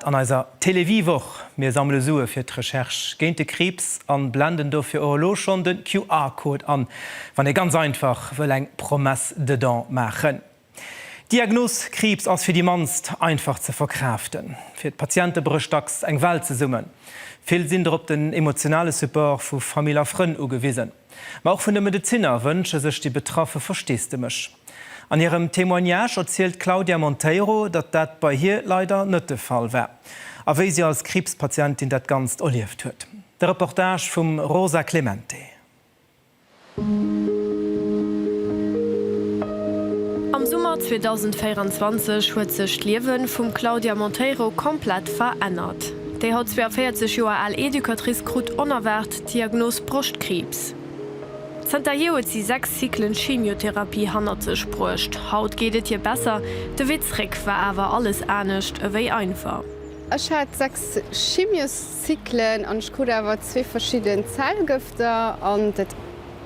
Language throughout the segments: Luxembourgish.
An eiser Télévie-Woch, Mir sammele Sue fir d'Recherche géint de Kriibs an blenden dofir och elo schonn de QR-Code an, wann ee ganz einfach wëll eng Promesse de don maachen. D'Diagnos Kriibs ass fir déi mannst einfach ze verkraaften. Fir d'Patiente brécht dacks eng Welt zesummen. Vill sinn drop den emotionale Support vu Famill a Frënn ugewisen. Ma och vun de Medezinner wënsche sech déi Betraffe Versteesdemech. An hirem Témoignage erzielt d'Claudia Monteiro, datt dat bei hir leider net de Fall war a wéi si als Kriibspatientin dat Ganzt erlieft huet. De Reportage vum Rosa Clemente. Am Summer 2024 huet sech d'Liewe vum Claudia Monteiro komplett verännert. Déi haut 42 Joer al Educatrice krut onerwaart Diagnos Broschtkriibs. Zënter hier huet si 6 Cyclen Chemiotherapie hannert sech bruecht. Haut geet et hier besser. De Wee zréck war awer alles anescht ewéi einfach. Ech hat 6 Chemioscyclen an ech krut awer zwee verschidden Zellgëfter. An dat,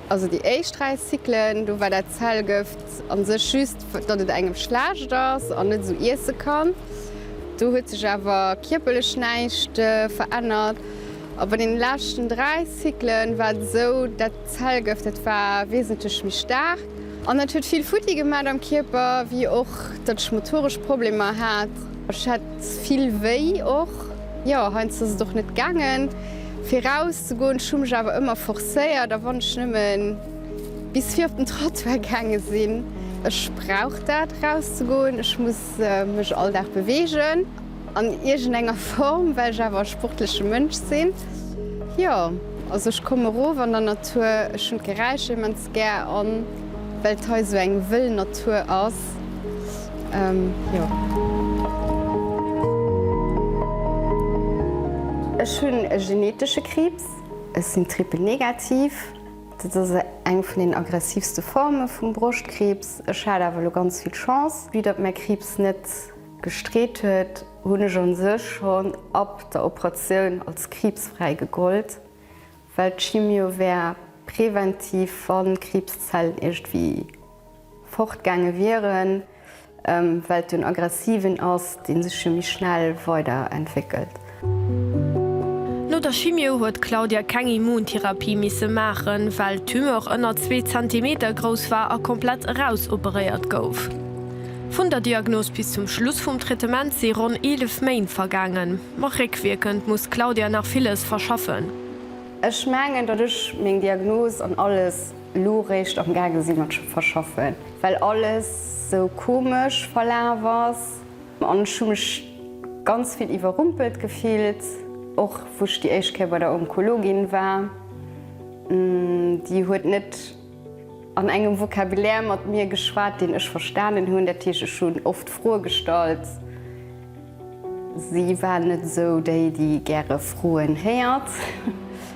also déi éischt 3 Cyclen, do war dat Zellgëft a sech just, datt et engem schlecht ass an net esou iesse kann. Do huet sech awer kierperlech näischt verännert. A bei den leschten 3 Cyclen war et esou, dat Zellgëft, dat war wesentlech méi staark an dat huet vill futti gemat am Kierper, wéi och dat ech motoresch Problemer hat. Ech hat vill wéi och, jo, heiansdo ass et och net gaangen fir eraus ze goen. Ech hu mech awer ëmmer forcéiert a wann ech nëmme bis fir op den Trottoir gaange sinn. Ech brauch dat eraus ze goen, ech muss mech all Dag beweegen. An iergend enger Form, well ech awer e sportleche Mënsch sinn. Jo, also ech kommen erof an der Natur, ech hunn d'Geräischer immens gär an well d'hei esou eng wëll Natur ass, jo. Ech hunn e genetesche Kriibs, ech sinn Triple negativ, dat ass eng vun den aggressivste Forme vum Broschtkriibs. Ech hat awer elo ganz vill Chance, wéi datt mäi Kriibs net. Gestreet huet, hunn ech an sech schonn ab der Operatioun als kriibsfräi gegollt, well d'Chimio wär präventiv, wann d'Kriibszellen iergendwéi fort gaange wieren, well et jo en aggressiven ass, deen sech jo méi schnell weider entwéckelt. No der Chimio huet d'Claudia keng Immuntherapie misse maachen, well d'Tumeur ënner zwee Zentimeter grouss war a komplett erausoperéiert gouf. Vun der Diagnos bis zum Schluss vum Traitement si ronn 11 Méint vergaangen. Ma réckwierkend muss d'Claudia nach villes verschaffen. Ech mengen, datt ech meng Diagnos an alles elo réischt am gaange si mat verschaffen, well alles sou komesch verlaf ass An ech hu mech ganz vill iwwerrumpelt gefillt, och wou ech déi éischt Kéier bei der Onkologin war. Déi huet net an engem Vocabulaire mat mir geschwat, deen ech verstanen hunn. Dat heescht, ech hunn oft Froe gestallt. Si war net esou déi, déi gäre Froen héiert.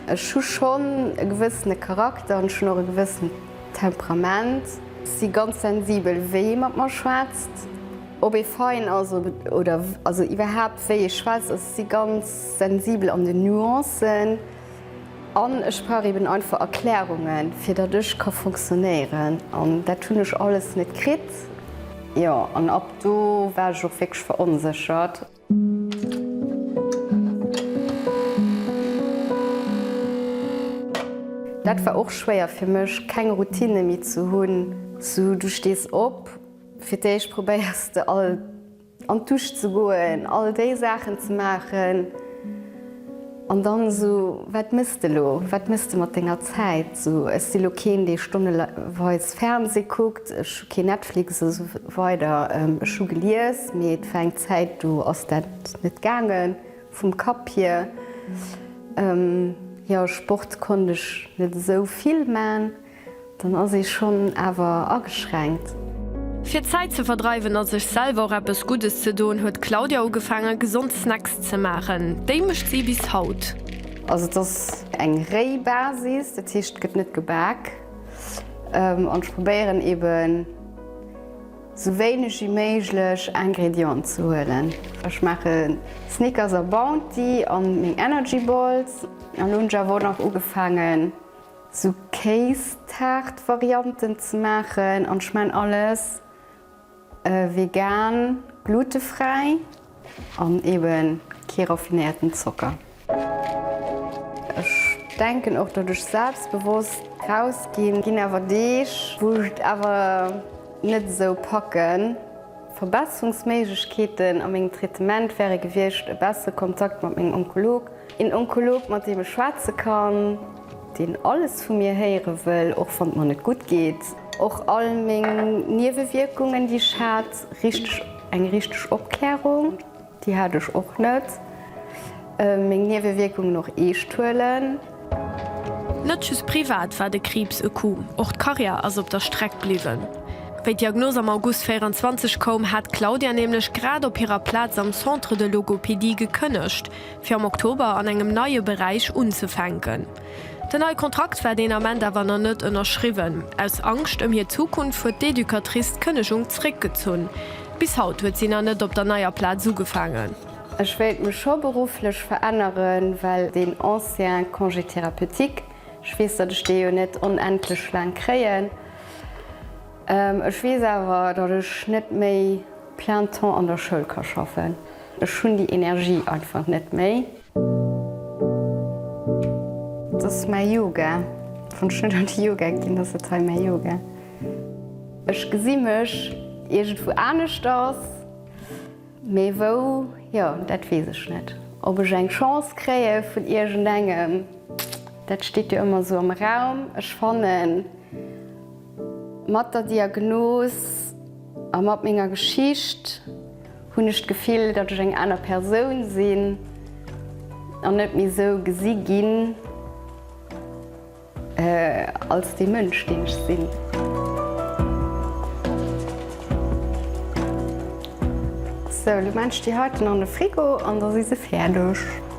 Ech hu schonn e gewëssene Charakter an ech hunn och e gewëssent Temperament. Si ganz sensibel, wéi ee mat mer schwätzt. Ob ee fein ass oder also iwwerhaapt wéi ee schwätzt, ech si ganz sensibel an den Nuancen an ech brauch eben einfach Erklärungen, fir datt ech ka fonctionnéieren an dat hunn ech alles net kritt. Jo, an ab do war ech och wierklech veronséchert. Dat war och schwéier fir mech, keng Routine méi ze hunn. Sou, du stees op, fir d'éischt probéiers de all an d'Dusch ze goen, all déi Saachen ze maachen. An dann esou, Wat mëss de elo? Wat mëss de mat denger Zäit? Esou, Ech si elo keen, dee stonneweis Fernseh kuckt, ech hu keen Netflix esou weider. Ech hu gelies, mee et war eng Zäit, do ass dat net gaange vum Kapp hier. Jo, Sport konnt ech net esou vill man. Dann ass ee schonn awer ageschränkt. Fir d'Zäit ze verdreiwen a sech selwer och eppes Guddes ze doen, huet d'Claudia ugefaange gesond Snacks ze maachen. Déi mécht si bis haut. Also et ass eng réi Basis, dat heescht et gëtt net gebak. An ech probéieren eben sou wéineg wéi méiglech Ingredienten ze huelen. Ech maache Snickers a Bounty a meng Energy Balls. An elo hunn ech awer och nach ugefaangen sou Kéistaart-Varianten ze maachen an ech maan alles vegan, glutefräi an eben kee raffinéierten Zocker. Ech denken och datt ech selbstbewosst raus ginn, ginn awer Deeg wou ech et awer net esou packen. Verbesserungsméiglechkeeten a mengem Traitement wäre gewiescht e bessere Kontakt mat mengem Onkolog, een Onkolog mat deem ech schwätze kann. Deen alles vu mir héiere wëll, och wann et mer net gutt geet. Och all meng Niewewierkungen, déi ech hat. Richteg, eng richteg Opklärung, déi hat ech och net. Meng Niewewierkungen och eescht huelen. Net just privat war de Kriibs e Coup, och d'Karriär ass op der Streck bliwwen. Wéi d'Diagnos am August 24 koum, hat d'Claudia nämlech grad op hirer Plaz am Centre de Logopédie gekënnegt. fir am Oktober an engem neie Beräich unzefänken. Den neie Kontrakt war deen Ament awer nach net ënnerschriwwen. Aus Angscht ëm hir Zukunft huet d'Educatrice d'Kënnegung zréckgezunn. Bis haut huet si nach net op der neier Plaz ugefaangen. Ech wéilt mech scho berufflech veränneren, well deen ancien Congé thérapeutique, ech weess, datt ech dee jo net onendlech laang kréien, Ech weess awer, datt ech net méi plein temps an der Schoul ka schaffen. Ech hunn déi Energie einfach net méi. Et ass mäi Yoga. Wann ech net an de Yoga ginn, ass et hei mäi Yoga. Ech gesi mech iergendwou aneschters, mee wou, jo, dat weess ech net. Ob ech eng Chance kréie vun iergendengem, dat steet jo ëmmer esou am Raum. Ech fannen. Mat der Diagnos a mat menger Geschicht hunn ech d'Gefill, datt ech eng aner Persoun sinn an net méi esou gesi ginn als dee Mënsch, deen ech sinn. Sou, elo maachen ech déi heiten an de Frigo an da si se fäerdeg.